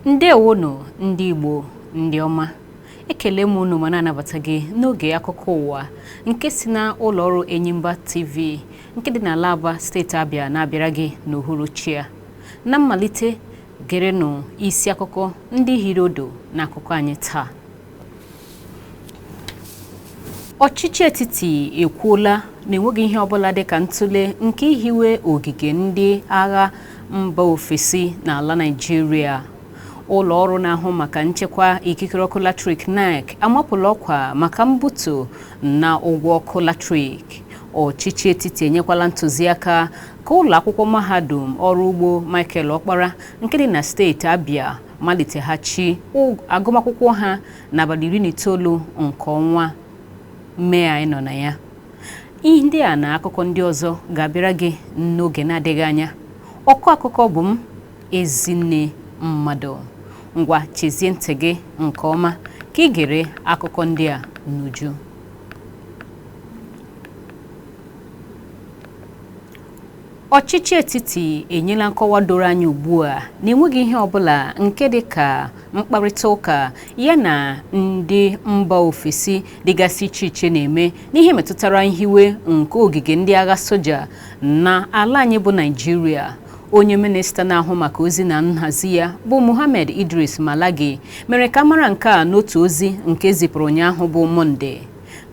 ndewonụ ndị Igbo ndị ọma ekele m unu ma na-anabata gị n'oge akụkọ ụwa nke si na ụlọ ọrụ Enyimba TV nke dị n'ala Aba steeti Abịa na-abịara gị n'uhuruchi a na mmalite gerenụ isi akụkọ ndị hiri ụdụ n'akụkọ anyị taa ọchịchị etiti ekwuola na enweghị ihe ọbụla dịka ntụle nke ihiwe ogige ndị agha mba ofesi n'ala Naịjirịa ụlọ ọrụ na-ahụ maka nchekwa ikikere ọkụ latrik NERC amapụla ọkwa maka mbutu na ụgwọ ọkụ latrik ọchịchị etiti enyekwala ntụziaka ka ụlọakwụkwọ mahadum ọrụ ugbo Michael Okpara nke dị na steeti Abia maliteghachi agụmakwụkwọ ha n'abalị iri na itoolu nke ọnwa Mee anyị nọ na ya ihe ndị a na akụkọ ndị ọzọ ga-abịara gị n'oge na-adịghị anya ọkọ akụkọ bụ m Ezinne Mmadụ ngwa chezie ntị gị nke ọma ka i gere akụkọ ndị a n'uju ọchịchị etiti enyela nkọwa doro anya ugbu a na enweghị ihe ọbụla nke dị ka mkparịta ụka ya na ndị mba ofesi dịgasị iche iche na-eme n'ihe metụtara nhiwe nke ogige ndị agha soja na ala anyị bụ Naịjirịa onye minista na-ahụ maka ozi na nhazi ya bụ Mohammed Idris Malagi mere ka a mara nke a n'otu ozi nke e zipụrụ ụnyaahụ bụ Mọnde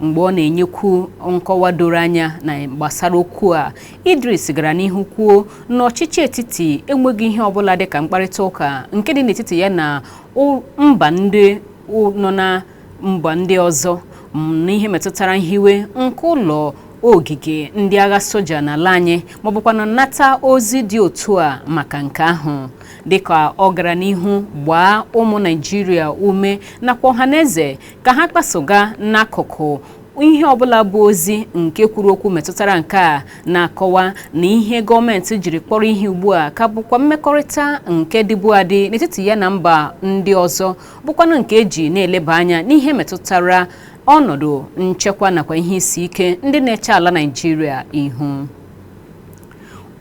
Mgbe ọ na-enyekwu nkọwa doro anya na gbasara okwu a, Idris gara n'ihu kwuo na ọchịchị etiti enweghị ihe ọbụla dị ka mkparịta ụka nke dị n'etiti ya na mba ndị nọ na mba ndị ọzọ n'ihe metụtara nhiwe nke ụlọ ogige ndị agha soja n'ala anyị maọbụkwanụ nata ozi dị otu a maka nke ahụ dịka ọ gara n'ihu gbaa ụmụ Naịjirịa ume nakwa ọhaneze ka ha kpasoga n'akụkụ ihe ọbụla bụ ozi nke kwuru okwu metụtara nke a na-akọwa na ihe gọọmenti jiri kpọrọ ihe ugbu a ka bụkwa mmekọrịta nke dịbu adị n'etiti ya na mba ndị ọzọ bụkwanụ nke eji na-eleba anya n'ihe metụtara ọnọdụ nchekwa nakwa ihe isi ike ndị na-eche ala Naịjirịa ihu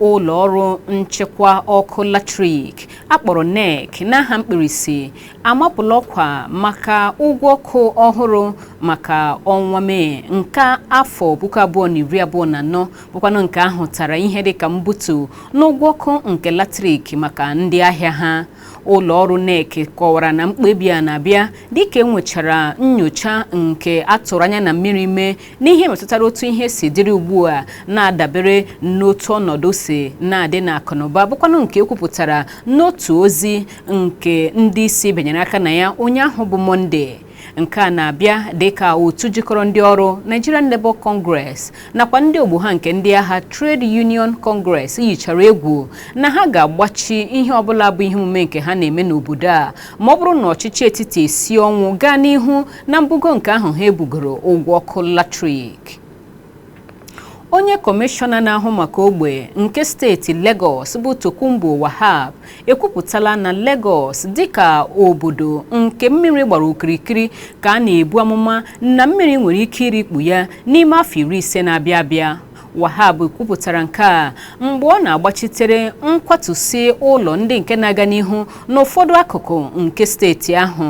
ụlọ ọrụ nchekwa ọkụ latrik a kpọrọ NERC n'aha mkpirisi amapụla ọkwa maka ụgwọ ọkụ ọhụrụ maka ọnwa mee nke afọ puku abụọ na iri abụọ na anọ bụkwanụ nke a hụtara ihe dịka mbutu n'ụgwọ ọkụ nke latrik maka ndị ahịa ha ụlọ ọrụ NERC kọwara na mkpebi a na-abịa dịka e nwechara nyocha nke a tụrụ anya na mmiri mee n'ihe metụtara otu ihe si dịrị ugbu a na-adabere n'otu ọnọdụ si na-adị n'akụnụba bụkwanụ nke e kwupụtara n'otu ozi nke ndị isi binyere aka na ya ụnyaahụ bụ mọnde nke a na-abịa dịka otu jikọrọ ndị ọrụ Nigeria Labour Congress nakwa ndị ogbo ha nke ndị ahịa Trade Union Congress yichara egwu na ha ga-agbachi ihe ọbụla bụ ihe omume nke ha na-eme n'obodo a ma ọ bụrụ na ọchịchị etiti esi ọnwụ gaa n'ihu na mbugo nke ahụ ha ebugoro ụgwọ ọkụ latrik onye kọmishọna na-ahụ maka ogbe nke steeti Lagos bụ Tokunbo Wahab ekwupụtala na Lagos dịka obodo nke mmiri gbara okirikiri ka a na-ebu amụma na mmiri nwere ike irikpu ya n'ime afọ iri ise na-abịa abịa Wahab kwupụtara nke a mgbe ọ na-agbachitere nkwatusi ụlọ ndị nke na-aga n'ihu n'ụfọdụ akụkụ nke steeti ahụ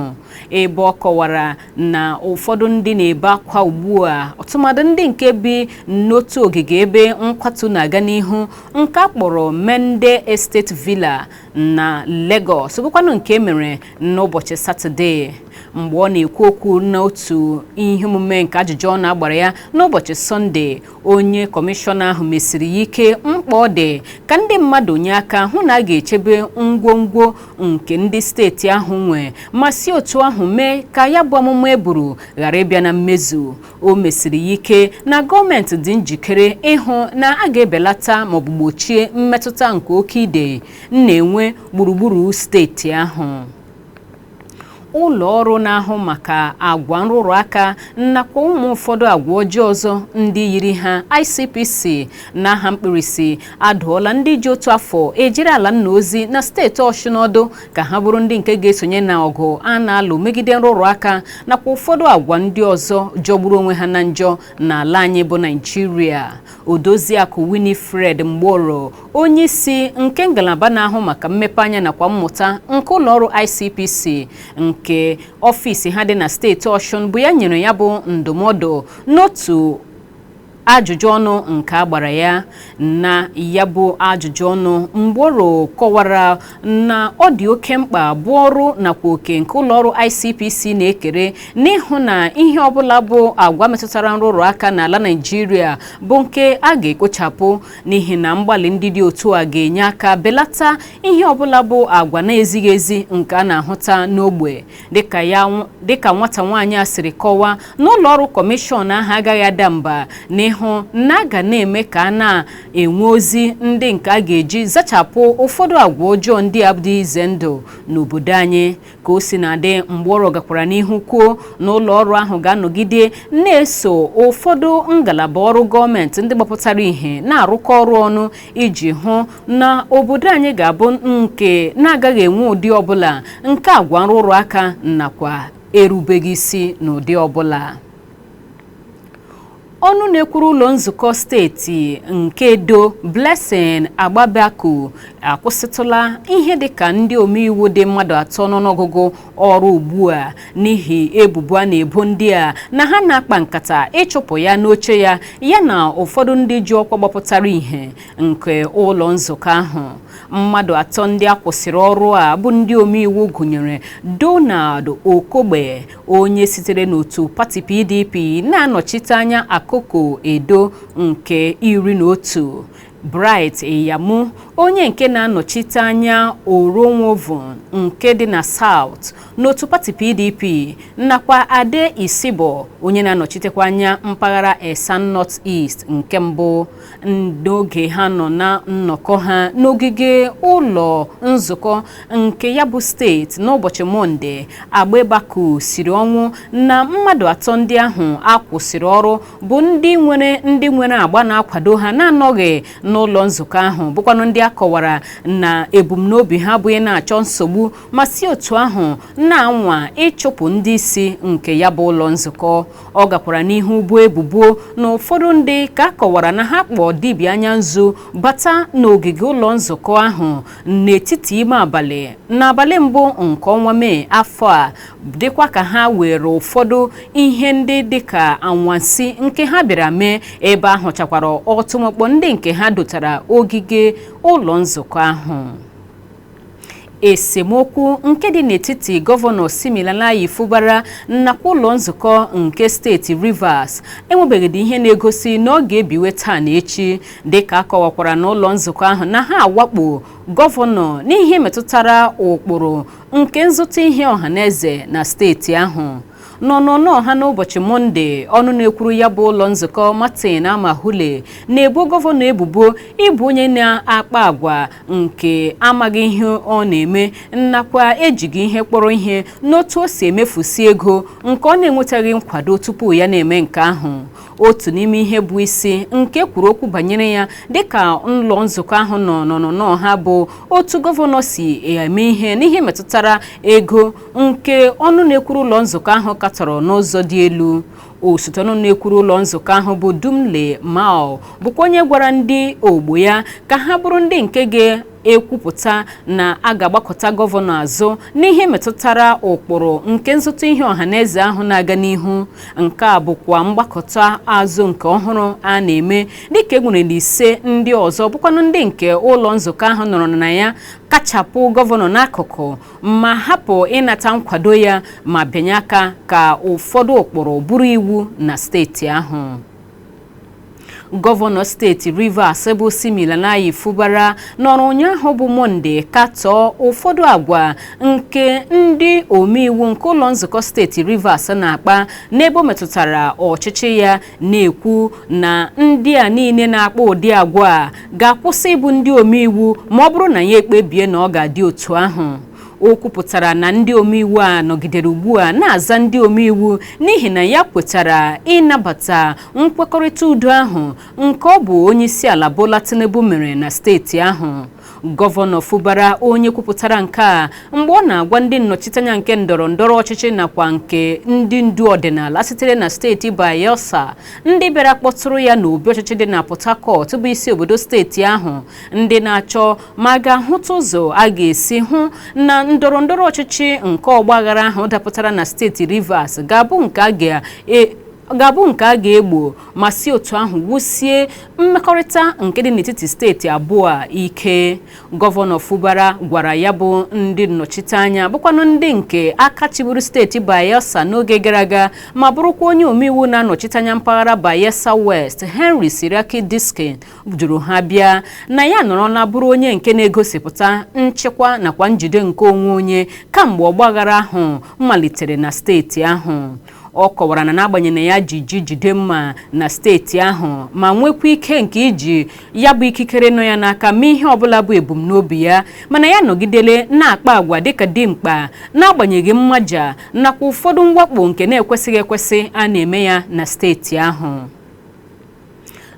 ebe ọ kọwara na ụfọdụ ndị na-ebe akwa ugbu a ọtụmadụ ndị nke bi n'otu ogige ebe nkwatu na-aga n'ihu nke a kpọrọ Mende Estate Villa na Lagos bụkwanụ nke e mere n'ụbọchị Satọde mgbe ọ na-ekwu okwu n'otu ihe omume nke ajụjụ ọnụ a gbara ya n'ụbọchị Sọnde onye kọmishọna ahụ mesiri ya ike mkpa ọ dị ka ndị mmadụ nye aka hụ na a ga-echebe ngwongwo nke ndị steeti ahụ nwe ma si otu ahụ mee ka ya bụ amụma e buru ghara ịbịa na mmezu o mesiri ya ike na gọọmenti dị njikere ịhụ na a ga-ebelata maọbụ gbochie mmetụta nke oke ide na-enwe gburugburu steeti ahụ ụlọ ọrụ na-ahụ maka agwa nrụrụ aka nakwa ụmụ ụfọdụ agwa ọjọọ ọzọ ndị yiri ha ICPC n'aha mkpirisi adụọla ndị ji otu afọ ejere ala nna ozi na steeti Ọshụn ọdụ ka ha bụrụ ndị nke ga-esonye na ọgụ a na-alụ megide nrụrụ aka nakwa ụfọdụ agwa ndị ọzọ jọgburu onwe ha na njọ n'ala anyị bụ naijiria odoziakụ winifred ingobro onye isi nke ngalaba na-ahụ maka mmepe anya nakwa mmụta nke ụlọọrụ icpc nke ọfịs ha dị na steeti ọshụn bụ ya nyere ya bụ ndụmọdụ n'otu ajụjụ ọnụ nke a gbara ya na ya bụ ajụjụ ọnụ mgboro kọwara na ọ dị oke mkpa bụ ọrụ nakwa oke nke ụlọọrụ ICPC na-ekere n'ịhụ na ihe ọbụla bụ agwa metụtara nrụrụ aka n'ala Naịjirịa bụ nke a ga-ekpochapụ n'ihi na mgbalị ndị dị otu a ga-enye aka belata ihe ọbụla bụ agwa na-ezighị ezi nke a na-ahụta n'ogbe dịka nwata nwaanyị a siri kọwaa na ụlọọrụ kọmishọn ahụ agaghị ada mba n'ịhụ na a ga na-eme ka a na-enwe ozi ndị nke a ga-eji zachapụ ụfọdụ agwa ọjọọ ndị a dị ize ndụ n'obodo anyị ka o si na-adị mgbọrọ gakwara n'ihu kwuo na ụlọọrụ ahụ ga-anọgide na-eso ụfọdụ ngalaba ọrụ gọọmenti ndị gbapụtara ihe na-arụkọ ọrụ ọnụ iji hụ na obodo anyị ga-abụ nke na-agaghị enwe ụdị ọbụla nke agwa nrụrụ aka nakwa erubeghị isi n'ụdị ọbụla ọnụ na-ekwuru ụlọ nzukọ steeti nke Edo Blessing Agbebaku akwụsịtụla ihe dịka ndị omeiwu dị mmadụ atọ n'ọnụọgụgụ ọrụ ugbu a n'ihi ebubo a na-ebo ndị a na ha na-akpa nkata ịchụpụ ya n'oche ya ya na ụfọdụ ndị ji ọkwa gbapụtara ihe nke ụlọ nzukọ ahụ mmadụ atọ ndị a kwụsịrị ọrụ a bụ ndị omeiwu gụnyere Donald Okogbe onye sitere n'otu pati PDP na-anọchite anya Akoko Edo nke iri na otu Bright Iyamu onye nke na-anọchite anya Orhionmwon nke dị na South n'otu pati PDP nakwa Adeh Isibor onye na-anọchitekwa anya mpaghara Esan North East nke mbụ n'oge ha nọ na nnọkọ ha n'ogige ụlọ nzukọ nke ya bụ steeti n'ụbọchị mọnde Agbebaku siri ọnwụ na mmadụ atọ ndị ahụ a kwụsịrị ọrụ bụ ndị nwere ndị nwere agba na-akwado ha na-anọghị n'ụlọ nzukọ ahụ bụkwanụ ndị a kọwara na ebumnobi ha bụ ịna-achọ nsogbu ma si otu ahụ na-anwa ịchụpụ ndị isi nke ya bụ ụlọ nzukọ ọ gakwara n'ihu boo ebubo na ụfọdụ ndị ka a kọwara na ha kpọọ dibịa anya nzu bata n'ogige ụlọ nzukọ ahụ n'etiti ime abalị n'abalị mbụ nke ọnwa Mee afọ a dịkwa ka ha were ụfọdụ ihe ndị dịka anwansi nke ha bịara mee ebe a hụchakwara ọtụmọkpọ ndị nke ha dotara ogige ụlọ nzukọ ahụ esemokwu nke dị n'etiti gọvanọ Siminalayi Fubara nakwa ụlọ nzukọ nke steeti Rivers enwebeghịdị ihe na-egosi na ọ ga-ebiwe taa na echi dịka a kọwakwara na ụlọ nzukọ ahụ na ha awakpo gọvanọ n'ihe metụtara ụkpụrụ nke nzụta ihe ọhaneze na steeti ahụ n'ọnụnọ ha n'ụbọchị mọnde ọnụ na-ekwuru ya bụ ụlọ nzukọ martin amaewhule na-ebo gọvanọ ebubo ịbụ onye na-akpa agwa nke amaghị ihe ọ na-eme nakwa ejighị ihe kpọrọ ihe n'otu o si emefusi ego nke ọ na-enwetaghị nkwado tupu ya na-eme nke ahụ otu n'ime ihe bụ isi nke e kwuru okwu banyere ya dịka ụlọ nzukọ ahụ nọ n'ọnụnọ ha bụ otu gọvanọ si eme ihe n'ihe metụtara ego nke ọnụ na-ekwuru ụlọ nzukọ ahụ katọrọ n'ụzọ dị elu osote ọnụ na-ekwuru ụlọ nzukọ ahụ bụ Dumle Maol bụkwa onye gwara ndị ogbo ya ka ha bụrụ ndị nke ga-ekwupụta na a ga-agbakụta gọvanọ azụ n'ihe metụtara ụkpụrụ nke nzụta ihe ọha na eze ahụ na-aga n'ihu nke a bụkwa mgbakụta azụ nke ọhụrụ a na-eme dịka e nwere na ise ndị ọzọ bụkwanụ ndị nke ụlọ nzukọ ahụ nọrọ na ya kachapụ gọvanọ n'akụkụ ma hapụ ịnata nkwado ya ma bịanye aka ka ụfọdụ ụkpụrụ bụrụ iwu na steeti ahụ gọvanọ steeti rivers bụ siminalayi fubara nọrọ ụnyaahụ bụ mọnde katọọ ụfọdụ agwa nke ndị omeiwu nke ụlọ nzukọ steeti rivers na-akpa n'ebe o metụtara ọchịchị ya na-ekwu na ndị a niile na-akpa ụdị agwa a ga-akwụsị ịbụ ndị omeiwu ma ọ bụrụ na ya ekpebie na ọ ga-adị otu ahụ o kwupụtara na ndị omeiwu a nọgidere ugbu a na-aza ndị omeiwu n'ihi na ya kwetara ịnabata nkwekọrịta udo ahụ nke ọ bụ onyeisiala Bola Tinubu mere na steeti ahụ gọvanọ fubara onye kwupụtara nke a mgbe ọ na-agwa ndị nnọchiteanya nke ndọrọ ndọrọ ọchịchị nakwa nke ndị ndu ọdịnala sitere na steeti bayelsa ndị bịara kpọtụrụ ya n'obi ọchịchị dị na port harcourt bụ isi obodo steeti ahụ ndị na-achọ ma a ga-ahụta ụzọ a ga-esi hụ na ndọrọ ndọrọ ọchịchị nke ọgbaghara ahụ dapụtara na steeti rivers ga-abụ nke a ga ga-abụ nke a ga-egbo ma si otu ahụ wusie mmekọrịta nke dị n'etiti steeti abụọ a ike gọvanọ Fubara gwara ya bụ ndị nnọchiteanya bụkwanụ ndị nke aka chịburu steeti Bayelsa n'oge gara aga ma bụrụkwa onye omeiwu na-anọchite anya mpaghara Bayelsa West Henry Seriake Dickson duru ha bịa na ya nọrọla bụrụ onye nke na-egosipụta nchịkwa nakwa njide nke onwe onye kamgbe ọgbaghara ahụ malitere na steeti ahụ ọ kọwara na n'agbanyeghị na ya ji ji jide mma na steeti ahụ ma nwekwa ike nke iji ya bụ ikikere nọ ya n'aka mee ihe ọbụla bụ ebumnobi ya mana ya anọgidele na-akpa agwa dịka dimkpa n'agbanyeghị mmaja nakwa ụfọdụ mwakpo nke na-ekwesịghị ekwesị a na-eme ya na steeti ahụ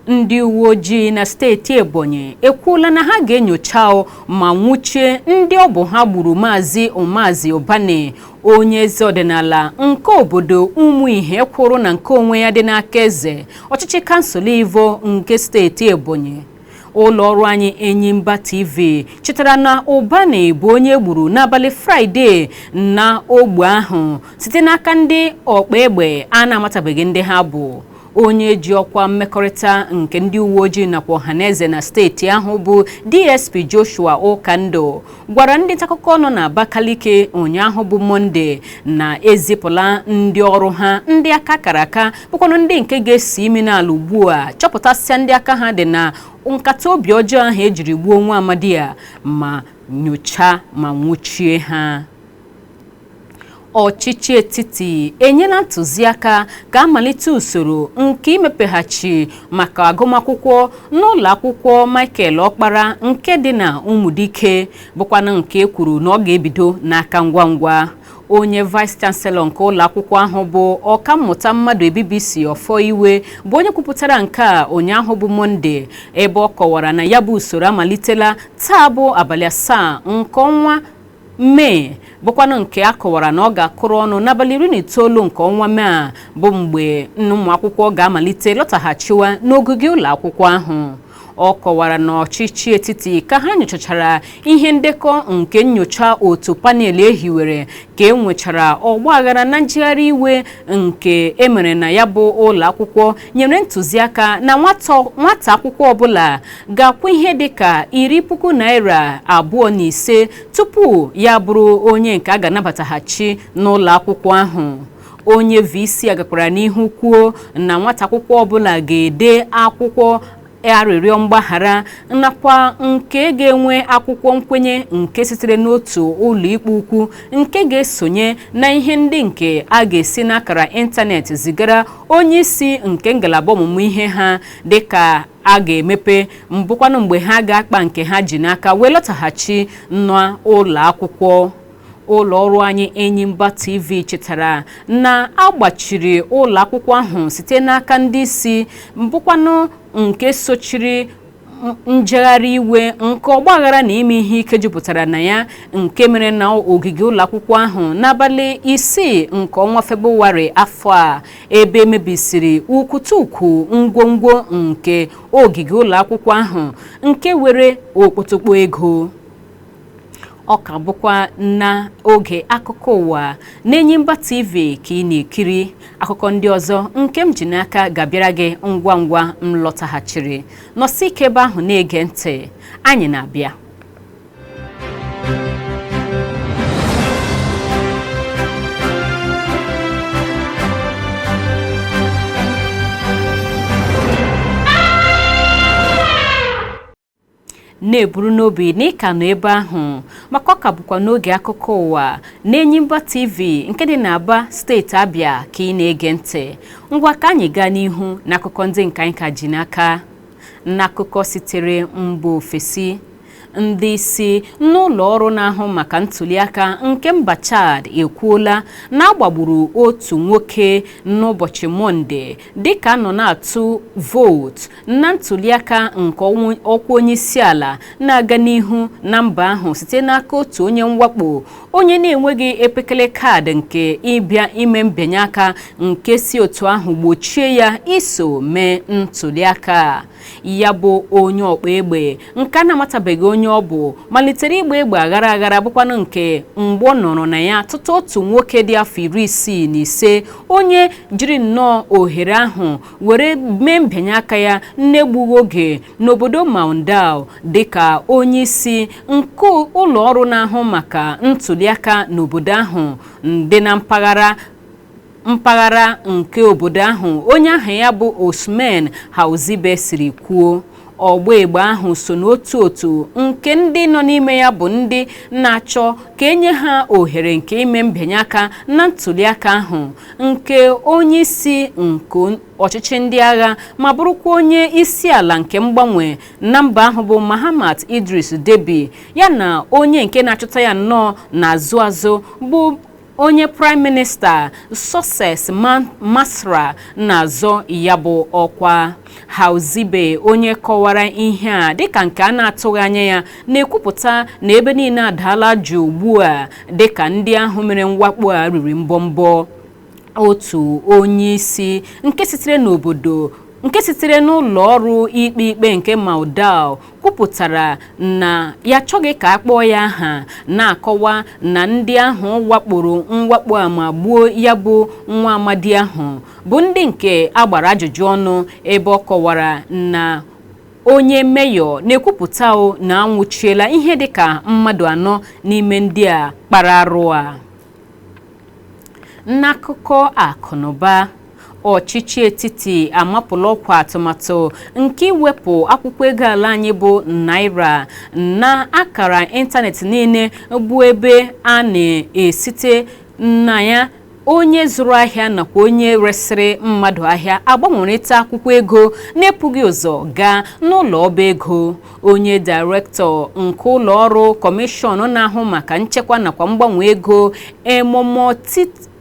ndị uwe ojii na steeti ebonyi ekwuola na ha ga-enyocha ma nwụchie ndị ọ bụ ha gburu maazị umazi ụbani onye eze ọdịnala nke obodo ụmụihe kwụrụ na nke onwe ya dị n'akaeze ọchịchị kansụl ivo nke steeti ebonyi ụlọ ọrụ anyị enyimba tv chetara na ụbani bụ onye e gburu n'abalị fraịde na ogbe ahụ site n'aka ndị ọkpa egbe a na-amatabeghị ndị ha bụ onye ji ọkwa mmekọrịta nke ndị uwe ojii nakwa ọhaneze na steeti ahụ bụ DSP Joshua Ụkandụ gwara ndị ntaakụkọ nọ na Abakaliki ụnyaahụ bụ Mọnde na e zipụla ndị ọrụ ha ndị aka kara aka bụkwanụ ndị nke ga-esi imi n'ala ugbu a chọpụtasịa ndị aka ha dị na nkata obi ọjọọ ahụ e jiri gbuo nwa amadi a ma nyochaa ma nwụchie ha ọchịchị etiti enyela ntụziaka ka a malite usoro nke imepeghachi maka agụmakwụkwọ n'ụlọ akwụkwọ Michael Ọkpara nke dị na Ụmụdike bụkwanụ nke e kwuru na ọ ga-ebido n'aka ngwa ngwa onye vice chancellor nke ụlọ akwụkwọ ahụ bụ ọkammụta Mmadụebibisi Ọfọ Iwe bụ onye kwupụtara nke a ụnyaahụ bụ Mọnde ebe ọ kọwara na ya bụ usoro amalitela taa bụ abalị asaa nke ọnwa Mee bụkwanụ nke a kọwara na ọ ga-akụrụ ọnụ n'abalị iri na itoolu nke ọnwa Mee a bụ mgbe nke ụmụ akwụkwọ ga-amalite lọtaghachiwa n'ogige ụlọ akwụkwọ ahụ ọ kọwara na ọchịchị etiti ka ha nyochachara ihe ndekọ nke nyocha otu panel e hiwere ka e nwechara ọgba aghara na njegharị iwe nke e mere na ya bụ ụlọ akwụkwọ nyere ntụziaka na nwata akwụkwọ ọbụla ga-akwụ ihe dịka iri puku naira abụọ na ise tupu ya bụrụ onye nke a ga-anabataghachi n'ụlọ akwụkwọ ahụ onye VC a gakwara n'ihu kwuo na nwata akwụkwọ ọbụla ga-ede akwụkwọ arịrịọ mgbaghara nakwa nke ga-enwe akwụkwọ nkwenye nke sitere n'otu ụlọikpe ukwu nke ga-esonye na ihe ndị nke a ga-esi n'akara ịntanetị zigara onye isi nke ngalaba ọmụmụ ihe ha dịka a ga-emepe bụkwanụ mgbe ha ga-akpa nke ha ji n'aka wee lọtaghachi n'ụlọ akwụkwọ ụlọ ọrụ anyị Enyimba TV chetara na a gbachiri ụlọ akwụkwọ ahụ site n'aka ndị isi bụkwanụ nke sochiri njegharị iwe nke ọgbaghara na ime ihe ike jupụtara na ya nke mere na ogige ụlọ akwụkwọ ahụ n'abalị isii nke ọnwa febụwarị afọ a ebe e mebisiri ukwutukwu ngwongwo nke ogige ụlọ akwụkwọ ahụ nke were okpotokpo ego ọ ka bụkwa n'oge akụkọ ụwa n'Enyimba TV ka ị na-ekiri akụkọ ndị ọzọ nke m ji n'aka ga-abịara gị ngwa ngwa m lọtaghachiri nọsi ike ebe ahụ na-ege ntị anyị na-abịa na-eburu n'obi na ị ka nọ ebe ahụ maka ọ ka bụkwa n'oge akụkọ ụwa n'Enyimba TV nke dị n'Aba steeti Abịa ka ị na-ege ntị ngwa ka anyị gaa n'ihu n'akụkọ ndị nke anyị ka ji n'aka n'akụkọ sitere mba ofesi ndị isi n'ụlọ ọrụ na-ahụ maka ntuliaka nke mba Chad ekwuola na a gbagburu otu nwoke n'ụbọchị Mọnde dịka a nọ na-atụ vootu na ntuliaka nke ọkwa onye isi ala na-aga n'ihu na mba ahụ site n'aka otu onye mwakpo onye na-enweghị epekele kaadị nke ịbịa ime mbịanye aka nke si otu ahụ gbochie ya iso mee ntuliaka ya bụ onye ọgba egbe nke a na-amatabeghị onye ọ bụ malitere ịgba egbe aghara aghara bụkwanụ nke mgbọ nọrọ na ya tụtụ otu nwoke dị afọ iri isii na ise onye jiri nnọọ ohere ahụ were mee mbịanye aka ya n'egbughị oge n'obodo Moundou dịka onye isi nke ụlọ ọrụ na-ahụ maka ntuliaka n'obodo ahụ dị na mpaghara mpaghara nke obodo ahụ onye aha ya bụ Ousmane Houzibe siri kwuo ọgba egbe ahụ so n'otu otu nke ndị nọ n'ime ya bụ ndị na-achọ ka e nye ha ohere nke ime mbịanye aka na ntuliaka ahụ nke onye isi nke ọchịchị ndị agha ma bụrụkwa onye isi ala nke mgbanwe na mba ahụ bụ Mahamat Idriss Deby ya na onye nke na-achụta ya nnọọ n'azụ azụ bụ onye praịm minista Succes Masra na-azọ ya bụ ọkwa Houzibe onye kọwara ihe a dịka nke a na-atụghị anya ya na-ekwupụta na ebe niile adaala jụụ ugbu a dịka ndị ahụ mere mwakpo a riri mbọmbọ otu onye isi nke sitere n'obodo nke sitere n'ụlọ ọrụ ikpe ikpe nke Moundou kwupụtara na ya achọghị ka a kpọọ ya aha na-akọwa na ndị ahụ wakporo mwakpo a ma gbuo ya bụ nwa amadi ahụ bụ ndị nke a gbara ajụjụ ọnụ ebe ọ kọwara na onye meyọ na-ekwupụta o na a nwụchiela ihe dịka mmadụ anọ n'ime ndị a kpara arụ a N'akụkọ akụnụba ọchịchị etiti amapụla ọkwa atụmatụ nke iwepụ akwụkwọ ego ala anyị bụ naira na akara ịntanetị niile bụ ebe a na-esite na ya onye zụrụ ahịa nakwa onye resịrị mmadụ ahịa agbanwerịta akwụkwọ ego na-ebughị ụzọ gaa n'ụlọ ọba ego onye daịrektọ nke ụlọ ọrụ kọmishọn na-ahụ maka nchekwa nakwa mgbanwe ego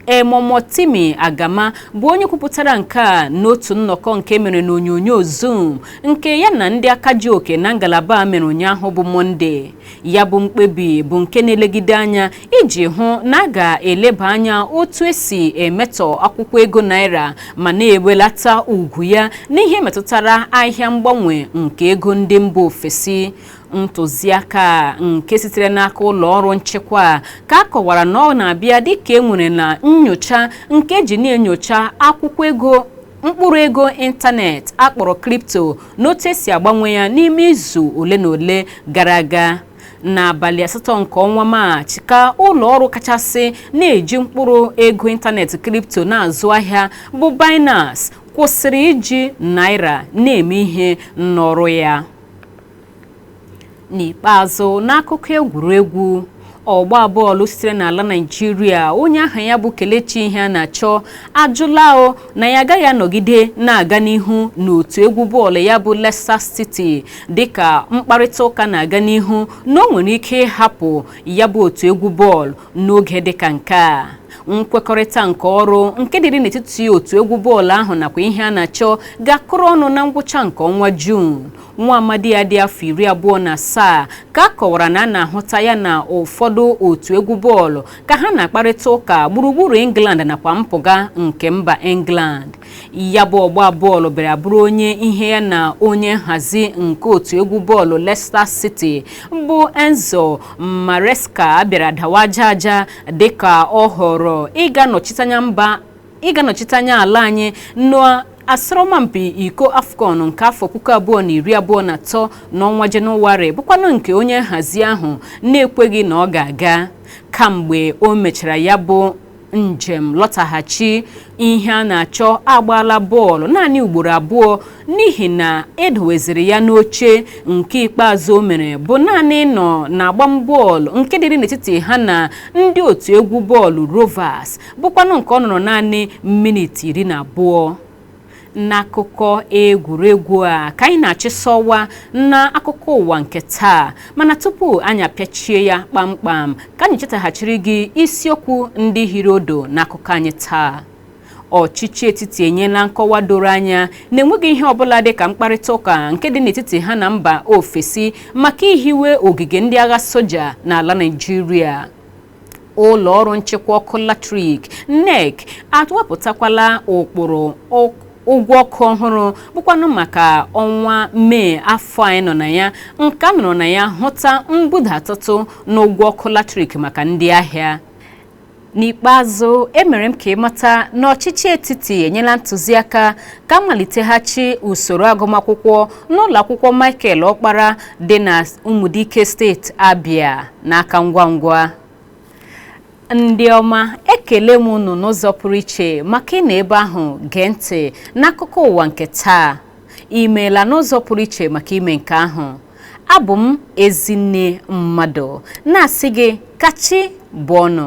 Emomotimi Agama bụ onye kwupụtara nke a n'otu nnọkọ nke mere n'onyonyo zoom nke ya na ndị aka ji oke na ngalaba a mere ụnyaahụ bụ mọnde ya bụ mkpebi bụ nke na-elegide anya iji hụ na a ga-eleba anya otu e si emetọ akwụkwọ ego naira ma na-ewelata ugwu ya n'ihe metụtara ahịa mgbanwe nke ego ndị mba ofesi ntụziaka nke sitere n'aka ụlọ ọrụ nchịkwa a ka a kọwara na ọ na-abịa dịka e nwere na nyocha nke e ji na-enyocha akwụkwọ ego mkpụrụ ego ịntanetị a kpọrọ kripto n'otu e si agbanwe ya n'ime izu ole na ole gara aga n'abalị asatọ nke ọnwa maachị ka ụlọ ọrụ kachasị na-eji mkpụrụ ego ịntanetị kripto na-azụ ahịa bụ Binance kwụsịrị iji naira na-eme ihe n'ọrụ ya n'ikpeazụ n'akụkọ egwuregwu ọgba bọọlụ sitere n'ala Naịjirịa onye aha ya bụ Kelechi Iheanacho ajụla o na ya agaghị anọgide na-aga n'ihu n'otu egwu bọọlụ ya bụ Leicester City dịka mkparịta ụka na-aga n'ihu na o nwere ike ịhapụ ya bụ otu egwu bọọlụ n'oge dịka nke a nkwekọrịta nke ọrụ nke dịrị n'etiti otu egwu bọọlụ ahụ nakwa Iheanacho ga-akụrụ ọnụ na ngwụcha nke ọnwa Juun nwa amadi ya dị afọ iri abụọ na asaa ka a kọwara na a na-ahụta ya na ụfọdụ otu egwu bọọlụ ka ha na-akparịta ụka gburugburu England nakwa mpụga nke mba England ya bụ ọgba bọọlụ bịara bụrụ onye ihe ya na onye nhazi nke otu egwu bọọlụ Leicester City bụ Enzo Maresca bịara dawa aja aja dịka ọ họrọ ịga nọchite anya mba ịga nọchite anya ala anyị n'asọrọmpi iko AFCON nke afọ puku abụọ na iri abụọ na atọ n'ọnwa jenụwarị bụkwanụ nke onye nhazi ahụ na-ekweghị na ọ ga-aga kamgbe o mechara ya bụ njem lọtaghachi Iheanacho agbaala bọọlụ naanị ugboro abụọ n'ihi na e doweziri ya n'oche nke ikpeazụ o mere bụ naanị nọ na agbam bọọlụ nke dịrị n'etiti ha na ndị otu egwu bọọlụ Rovers bụkwanụ nke ọ nọrọ naanị minit iri na abụọ n'akụkọ egwuregwu a ka anyị na-achịsọwa na akụkọ ụwa nke taa mana tupu anyị apịachie ya kpamkpam ka anyị chetaghachiri gị isiokwu ndị hiri ụdụ n'akụkọ anyị taa ọchịchị etiti enyela nkọwa doro anya na enweghị ihe ọbụla dị ka mkparịta ụka nke dị n'etiti ha na mba ofesi maka ihiwe ogige ndị agha soja n'ala Naịjirịa ụlọ ọrụ nchịkwa ọkụ latrik NERC atụwapụtakwala ụkpụrụ ụgwọ ọkụ ọhụrụ bụkwanụ maka ọnwa Mee afọ anyị nọ na ya nke a nọrọ na ya hụta mbudatụtụ n'ụgwọ ọkụ latrik maka ndị ahịa n'ikpeazụ emere m ka ị mata na ọchịchị etiti enyela ntụziaka ka a maliteghachi usoro agụmakwụkwọ n'ụlọ akwụkwọ Michael Ọkpara dị na Umudike steeti Abia n'aka ngwa ngwa ndị ọma ekele m unu n'ụzọ pụrụ iche maka ịnọ ebe ahụ gee ntị n'akụkọ ụwa nke taa imeela n'ụzọ pụrụ iche maka ime nke ahụ abụ m Ezinne Mmadụ na-asị gị ka chi bọọ nụ